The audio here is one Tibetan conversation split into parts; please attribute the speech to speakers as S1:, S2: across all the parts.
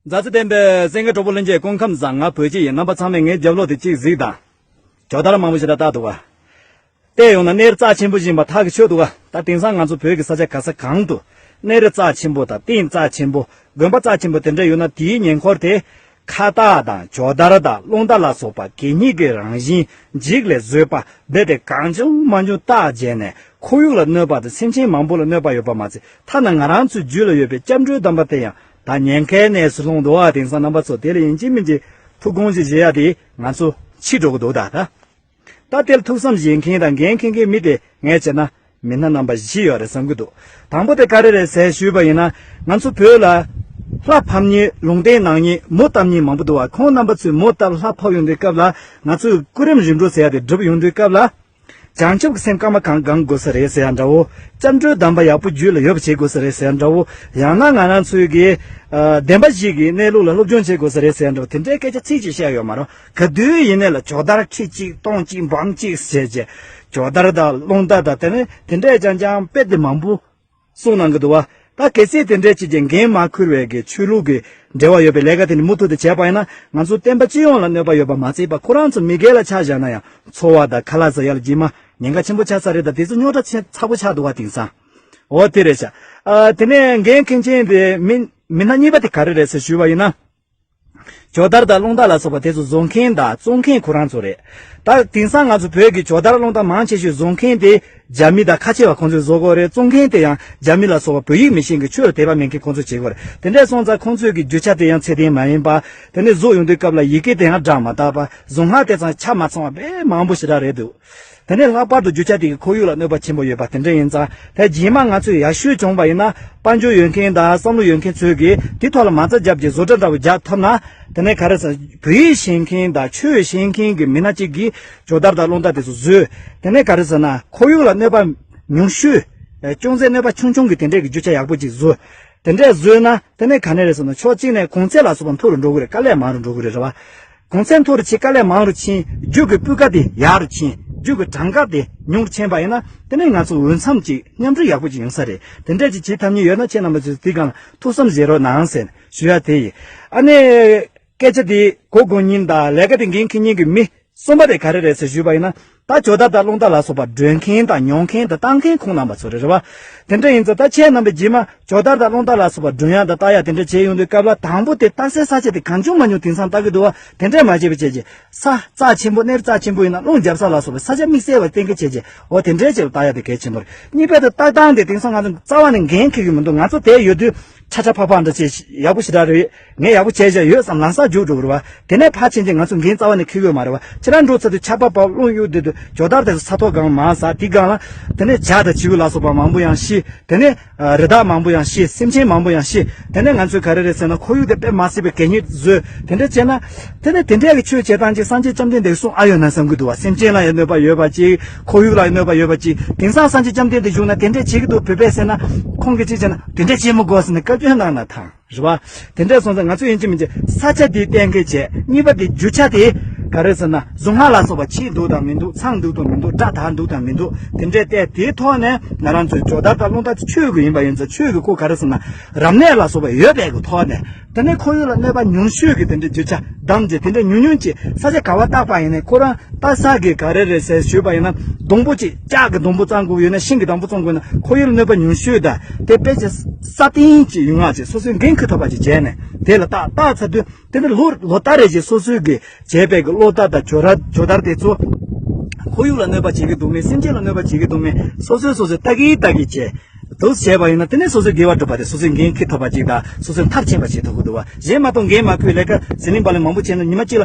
S1: མཛའ་བརྩེ་ལྡན་པའི་སེང་གེ་གྲོགས་པོ་ལྷན་རྒྱས་སྐུ་ཁམས་བཟང་ང་བོད་སྤྱི་ཡི་རྣམ་པ་ཚང་མས་ངའི་རྒྱབ་ལོག་དེ་གཅིག་གཟིགས་དང། ཇོ་དར་མང་པོ་ཞིག་ད་ལྟ་འདུག་ག། བལྟས་ཡོང་ན་གནས་རི་རྩ་ཆེན་པོ་བཞིན་པ་ཐག་གིས་ཆོད་འདུག་ག་ད་དེང་སང་ང་ཚོ་བོད་ཀྱི་ས་ཆ་ག་ས་གང་དུ་གནས་རི་རྩ་ཆེན་པོ་དང་སྟེང་རྩ་ཆེན་པོ་དགོན་པ་རྩ་ཆེན་པོ་དེ་འདྲ་ཡོད་ན་དེའི་ཉེ་འཁོར་དེ་ཁ་བཏགས་དང་ཇོ་དར་དང་རླུང་རྟ་ལ་སོགས་པ་གད་སྙིགས་ཀྱི་རང་བཞིན་འཇིགས་ལས་བཟོས་པ་རྦད་དེ་གང་བྱུང་མ་བྱུང་བཏགས་བྱས་ནས་ཁོར་ཡུག་ལ་གནོད་པ་དང་སེམས་ཅན་མང་པོ་ལ་གནོད་པ་ཡོད་པ་མ་ཚད་ཐ་ན་ང་རང་ཚོའི་རྒྱུད་ལ་ཡོད་པའི་སྐྱབས་འགྲོའི་གདམས་པ་དེ་ཡང་ད་ཉེན་ཁའི་གནས་སུ་ལྷུང་འགྲོ་བ་དེང་སང་རྣམ་པ་ཚོ་དེ་ལ་ཡིན་གཅིག་མིན་གཅིག་ཐུགས་དགོངས་གཅིག་བཞེས་ཡ་དེས་ང་ཚོ་འཆི་འགྲོ་གི་འདུག་ད་ལྟ། ད་ལྟའི་ཐུགས་བསམ་བཞེས་མཁན་དང་འགན་འཁེན་མཁན་མི་དེ་ངས་བྱས་ན་མི་སྣ་རྣམ་པ་བཞི་ཡོད་རེད་བསམ་གྱི་འདུག་དང་པོ་དེ་ཀ་རེ་རེད་ཟེར་ཞུས་པ་ཡིན་ན་ང་ཚོ་བོད་ལ། ལྷ་ཕམ་གཉིས་ལུང་བསྟན་ནག་གཉིས་མོ་བཏབ་གཉིས་མང་པོ་འདུག་བ་ཁོང་རྣམ་པ་ཚོས་མོ་བཏབ་ལྷ་ཕབ་ཡོང་དུས་སྐབས་ལ་ང་ཚོས་སྐུ་རིམ་རིམ་གྲོ་ཟེར་ཡ་དེ་བསྒྲུབ་ཡོང་དུས་སྐབས་ལ། བྱང་ཆུབ་ཀྱི་སེམས་སྐར་མ་གང་དགང་དགོས་ས་རེད་ཟེར་ཡ་འདྲ་བོ། སྐྱབས་འགྲོའི་གདམས་པ་ཡག་པོ་རྒྱུད་ལ་ཡོད་པ་བྱེད་དགོས་ས་རེད་ཟེར་ཡ་འདྲ་བོ། ཡང་ན་ང་རང་ཚོའི་དགེ། བདེན་པ་ཞིག་གིས་གནས་ལུགས་ལ་སློབ་སྦྱོང་བྱེད་དགོས་ས་རེད་ཟེར་ཡ་འདྲ་བོ་དེ་འདྲའི་སྐད་ཆ་ཚིག་གཅིག་བཤད་ཡོད་མ་རུང། ག་དུས་ཡིན་ནའི་ལ་ཇོ་དར་ཁྲི་གཅིག་སྟོང་གཅིག་འབམ་གཅིག་ཟེར་བྱས། ཇོ་དར་དང་རླུང་དར་དང་དེ་ནི་དེ་འདྲས་ཀྱང་ཀྱང་དཔེ་དེབ་མང་པོ་གསུང་གནང་གི་འདུག་བ། ད་གལ་སྲིད་དེ་འདྲས་ཅིག་གིས་འགན་མ་ཁུར་བའི་གི་ཆོས་ལུགས་ཀྱི་འབྲེལ་བ་ཡོད་པའི་ལས་ཀ་དེ་ནི་མུ་མཐུད་དུ་བྱས་པ་ཡིན་ན་ང་ཚོ་བསྟན་པ་སྤྱི་ཡོངས་ལ་གནོད་པ་ཡོད་པ་མ་ཚད་པ་ཁོ་རང་ཚོ་མི་སྒེར་ལ་ཆ་བཞག་ན་ཡང་ཚོ་བ་དང་ཁ་ལག་ཟ་ཡག་ལ་ཀྱི་མ་ཉེན་ཁ་ཆེན་པོ་ཆགས་ས་རེད་ད་དེ་ཚོ་རྙོག་དྲ་ཆེན་ཚ་པོ་ཆགས་འདུག་བ་དེང་སང། འོ་དེ་རེད་བྱ། དེ་ནས་འགན་འཁེན་མཁན་དེ་མི་མི་སྣ་གཉིས་པ་དེ་ག་རེ་རེད་ཟེར་ཞུས་བ་ཡིན་ན། ཇོ་དར་དང་རླུང་དར་ལ་སོགས་པ་དེ་ཚོ་བཟོ་མཁན་དང་བཙོང་མཁན་ཁོ་རང་ཚོ་རེད། ད་དེང་སང་ང་ཚོ་བོད་ཀྱི་ཇོ་དར་རླུང་དར་མང་ཆེ་ཤོས་བཟོ་མཁན་དེ་རྒྱ་མི་དང་ཁ་ཆེ་བ་ཁོང་ཚོས་བཟོ་དགོས་རེད་བཙོང་མཁན་དེ་ཡང་རྒྱ་མི་ལ་སོགས་པ་བོད་ཡིག་མི་ཤེས་མཁན་ཆོས་ལ་དད་པ་མེད་མཁན་ཁོང་ཚོས་བྱེད་དགོས་རེད་དེ་འདྲས་སོང་ཙང་ཁོང་ཚོས་ཀྱི་རྒྱུ་ཆ་དེ་ཡང་ཚད་ལྡན་མ་ཡིན་པ། དེ་ནས་བཟོ་ཡོང་དུས་སྐབས་ལ་ཡི་གེ་དེ་ཡང་བསྒྲགས་མ་ཐག་པ་བཟོ་སྔགས་དེ་ཚང་ཆ་མ་ཚང་བ་དཔེ་མང་པོ་ཞེ་དྲག་རེད་འདུག། དེ་ནས་ལྷག་པར་དུ་རྒྱུ་ཆ་དེ་གི་ཁོར་ཡུག་ལ་གནོད་པ་ཆེན་པོ་ཡོད་པ་དེ་འདྲ་ཡིན་ཙང་ད་རྗེས་མ་ང་ཚོས་ཡར་ཞུ་བྱུང་བ་ཡིན་ན་དཔའ་འབྱོར་ཡོད་མཁན་དང་བསམ་བློ་ཡོད་མཁན་ཚོས་གིས་དེ་ཐོག་ལ་མ་རྩ་བརྒྱབ་ཀྱི་བཟོ་གྲྭ་འདྲ་བོ་རྒྱག་ཐུབ་ན། དེ་ནས་ག་རེ་ཟ། བོད་ཡིག་ཤེས་མཁན་དང་ཆོས་ཤེས་མཁན་གྱི་མི་སྣ་གཅིག་གིས་ཇོ་དར་དང་སློང་རྟ་དེ་ཚོ་བཟོས། དེ་ནས་ག་རེ་ཟ་ན་ཁོར་ཡུག་ལ་གནོད་པ་ཉུང་ཤོས། ཅུང་ཟད་གནོད་པ་ཆུང་ཆུང་གི་དེ་འདྲས་ཀྱི་རྒྱུ་ཆ་ཡག་པོ་ཅིག་བཟོ། དེ་འདྲས་བཟོས་ན་དེ་ནས་ག་ནས་རེད་ཟེར་ན་ཕྱོགས་གཅིག་ནས་གོང་ཚད་ལ་སོགས་པ་མཐོ་རུ་འགྲོ་གི་རེད་དཀའ་ལས་མང་རུ་འགྲོ་གི་རེད་རེད་བ། གོང་ཚད་མཐོ་རུ་ཕྱིན་དཀའ་ལས་མང་རུ་ཕྱིན་རྒྱུད་ཀྱི་སྤུས་ཀ་དེ་ཡག་རུ་ཕྱིན་རྒྱུད་ཀྱི་གྲངས་ཀ་དེ་ཉུང་རུ་ཕྱིན་པ་ཡིན་ན་དེ་ནི་ང་ཚོ་འོས་འཚམས་ཅིག་མཉམ་འགྲོ་ཡག་པོ་ཅིག་ཡོང་ས་རེད་དེ་འདྲ་ཅིག་བྱེད་ཐབས་མྱི་ཡོད་ན་ཁྱེད་རྣམ་པ་ཚོས་དེའི་སྒང་ལ་ཐུགས་བསམ་བཞེས་རོགས་གནང་ཟེར་ཞུ་ཡག་དེ་ཡིན་ཨ་ནེ། སྐད་ཆ་དེ་གོ་དགོས་ཉིན་དང་ལས་ཀ་དེ་འགན་ཁི་ཉིན་གྱི་མི་གསུམ་པ་རེད་ག་རེ་རེད་ཟེར་ཞུས་པ་ཡིན་ན་ད་ཇོ་ད་ད་རླུང་རྟ་ལ་སོགས་པ་སྒྲོན་མཁན་དང་མྱོང་མཁན་དང་བརྟག་མཁན་ཁོང་རྣམས་པ་ཚོ་རེད་རེད་བ། དེ་འདྲ་ཡིན་ཚོ་ད་ཆའི་རྣམ་པའི་རྗེས་མ་ཇོ་ད་ད་རླུང་རྟ་ལ་སོགས་པ་སྒྲོན་ཡག་དང་བརྟག་ཡག་དེ་འདྲ་བྱས་ཡོང་དུས་སྐབས་ལ་དང་པོ་དེ་བརྟག་སའི་ས་ཆ་དེ་གང་བྱུང་མ་བྱུང་དེང་སང་བརྟག་གི་འདུག་བ་དེ་འདྲས་མ་བྱས་པའི་བྱས་རྗེས་ས་རྩ་ཆེན་པོ་སྣེར་རྩ་ཆེན་པོ་ཡིན་ན་རླུང་རྒྱབ་ས་ལ་སོགས་པའི་ས་ཆ་དམིགས་བསལ་བ་གཏན་འཁེལ་བྱས་རྗེས་འོ་དེ་འདྲས་བྱས་པ་བརྟག་ཡག་དེ་གལ་ཆེན་པོ་རེད་གཉིས་པ་དེ་བརྟག་སྟངས་དེ་དེང་སང་ང་ཚོ་རྩ་བ་ནས་འགན་འཁེལ་གི་མི་འདུག་ང་ཚོ་དེ་ཡོད་དུས་ཁྲ་ཁྲ་ཕག་ཕག་འདྲ་བྱས་ཡག་པོ་ཞེ་དྲག་རེད། ངས་ཡག་པོ་བྱས་བྱས་ཡོད་བསམ་ལང་སར་རྒྱུགས་འགྲོ་གི་རེད་བ། དེ་ནས་ཕར་ཕྱིན་རྗེས་ང་ཚོ་འགན་རྩ་བ་ནས་འཁུར་གི་མ་རེད་བ། ཕྱི་ར་འགྲོ་ཚར་དུས་ཆར་པ་བབས་རླུང་གཡུག་དུས་དུ་ཇོ་དར་དེ་ཚོ་ས་ཐོག་སྒང་མང་ས་དེའི་སྒང་ལ། དེ་ནས་བྱ་དང་བྱིའུ་ལ་སོགས་པ་མང་པོ་ཡང་ཤི། དེ་ནས། རི་དྭགས་མང་པོ་ཡང་ཤི་སེམས་ཅན་མང་པོ་ཡང་ཤི། དེ་ནས་ང་ཚོས་ག་རེ་རེད་ཟེར་ན་ཁོར་ཡུག་དེ་དཔེ་མ་སྲིད་པའི་གད་སྙིགས་བཟོས། དེ་འདྲ་བྱས་ན། དེ་ནས་དེ་འདྲ་གི་ཆོས་བྱེད་སྟངས་ཅིག་སངས་རྒྱས་བཅོམ་ལྡན་འདས་གསུངས་ཨ་ཡོད་ན་བསམ་གྱི་འདུག་བ་སེམས་ཅན་ལ་ཡང་གནོད་པ་ཡོད་པ་ཅིག་ཁོར་ཡུག་ལ་ཡང་གནོད་པ་ཡོད་པ་ཅིག་དེང་སང་སངས་རྒྱས་བཅོམ་ལྡན་འདས་བཞུགས་ན་དེ་འདྲ་བྱེད་ཀྱི་འདུག་བོད་པས་ཟེར་ན། ཁོང་གིས་ཅིག་བྱས་ན་དེ་འདྲ་བྱེད་མི་དགོས་ཟེར་ནས་བཀའ་བཀྱོན་གནང་ན་ཐང། རེད་བ། དེ་འདྲས་སོང་ཚེ་ང་ཚོས་ཡིན་གཅིག་མིན་གཅིག་ས་ཆ་དེའི་གཏན་འཁེལ་བྱས། གཉིས་པ་དེ་རྒྱུ་ཆ་དེ། ག་རེ་ཟེར་ན་གཟུངས་སྔགས་ལ་སོགས་པ་ཕྱིས་འདུག་དང་མི་འདུག་ཚང་འདུག་དང་མི་འདུག་སྒྲ་དག་འདུག་དང་མི་འདུག་དེ་འདྲས་བལྟས་དེའི་ཐོག་ནས་ང་རང་ཚོས་ཇོ་དར་དང་རླུང་དར་དེ་ཆོས་ཀྱི་ཡིན་པ་ཡིན་ཚེ་ཆོས་ཀྱི་སྐུ་ག་རེ་ཟེར་ན་རབ་གནས་ལ་སོགས་པ་ཡོད་པའི་གི་ཐོག་ནས། དེ་ནས་ཁོར་ཡུག་ལ་གནོད་པ་ཉུང་ཤོས་ཀྱི་དེ་འདྲས་རྒྱུ་ཆ་བདམས་རྗེས་དེ་འདྲས་ཉུང་ཉུང་གཅིག་ས་ཆ་ག་བ་བཏགས་པ་ཡིན་ནས་ཁོ་རང་བཏགས་ས་གི་ག་རེ་རེད་ཟེར་ཞུས་པ་ཡིན་ན་སྡོང་པོ་གཅིག་ལྕགས་ཀྱི་སྡོང་པོ་གཙང་དགོས་ཡོད་ན་ཤིང་གི་སྡང་པོ་བཙོང་དགོས་ན་ཁོར་ཡུག་ལ་གནོད་པ་ཉུང་ཤོས་དང་དེ་དཔེ་བྱད་ས་སྟེང་གི་ཡུལ་སྔགས་བཅས་སོ་སོའི་འགན་ཁུར་ཐོབ་པ་བཅས་བྱས་ནས་དེ་ལ་བརྟག་བརྟག་ཚར་དུས་དེ་ནི་ལོ་ལྟར་རེ་བཞིན་སོ་སོའི་གིས་བྱས་པའི་གློག་ལྟར་དང་གྱོ་ལྟར་དེ་ཚོ་ཁོར་ཡུག་ལ་གནོད་པ་བྱེད་ཀྱི་འདུག་མེད་སེམས་ཅན་ལ་གནོད་པ་བྱེད་ཀྱི་འདུག་མེད་སོ་སོས་སོ་སོའི་ལྟ་གིན་ལྟ་གིན་བྱས་འདུག་བྱས་པ་ཡིན་ན་དེ་ནི་སོ་སོའི་དགེ་བ་སྒྲུབ་པ་དང་སོ་སོའི་འགན་ཁུར་ཐོབ་པ་ཅིག་དང་སོ་སོའི་མཐར་ཕྱིན་པ་ཞིག་ཐོབ་ཀྱི་འདུག་བ་གཞན་མ་གཏོགས་འགན་མ་ཁུར་ལས་ཀ་ཟི་ལིང་པ་ལིང་མང་པོ་བྱས་ན་ཉི་མ་གཅིག་ལ་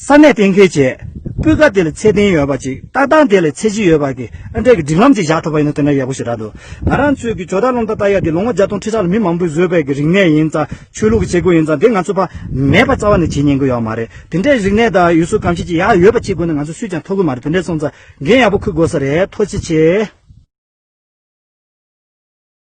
S1: ས་གནས་གཏན་འཁེལ་བྱས། སྤུས་ཀ་དེ་ལས་ཚད་ལྡན་ཡོད་པ་ཅིག་ལྟ་སྟངས་དེ་ལས་ཚད་གཞི་ཡོད་པ་གི་ཨ་འབྲས་ཀྱི་སྒྲིག་ལམ་ཅིག་བཞག་ཐུབ་པ་ཡིན་ན་དེ་འདྲ་ཡག་པོ་ཞིག་རག་འདུག་ང་རང་ཚོའི་གི་ཇོ་དར་སློང་རྟ་རྟ་ཡག་འདི་ལོ་ངོ་བརྒྱ་སྟོང་ཁྲི་ཕྲག་ལ་མི་མང་པོས་བཟོས་དཔལ་གྱི་རིག་གནས་ཡིན་ཙང་ཆོས་ལུགས་ཀྱི་བྱེད་སྒོ་ཡིན་ཙང་དེ་ང་ཚོ་ཕ་མེས་པ་རྩ་བ་ནས་བྱེད་ཉན་གི་ཡོག་མ་རེད་དེ་འདྲའི་རིག་གནས་དང་ཡུལ་སྲོལ་གམ་ཤེས་ཀྱི་ཡག་ཡོད་པ་ཅིག་དགོས་ན་ང་ཚོ་སུས་ཀྱང་འཐོར་གི་མ་རེད་དེ་འདྲས་སོང་ཙང་འགན་ཡག་པོ་ཁུར་དགོས་ས་རེད་ཐོ་ཆེ་ཆེ།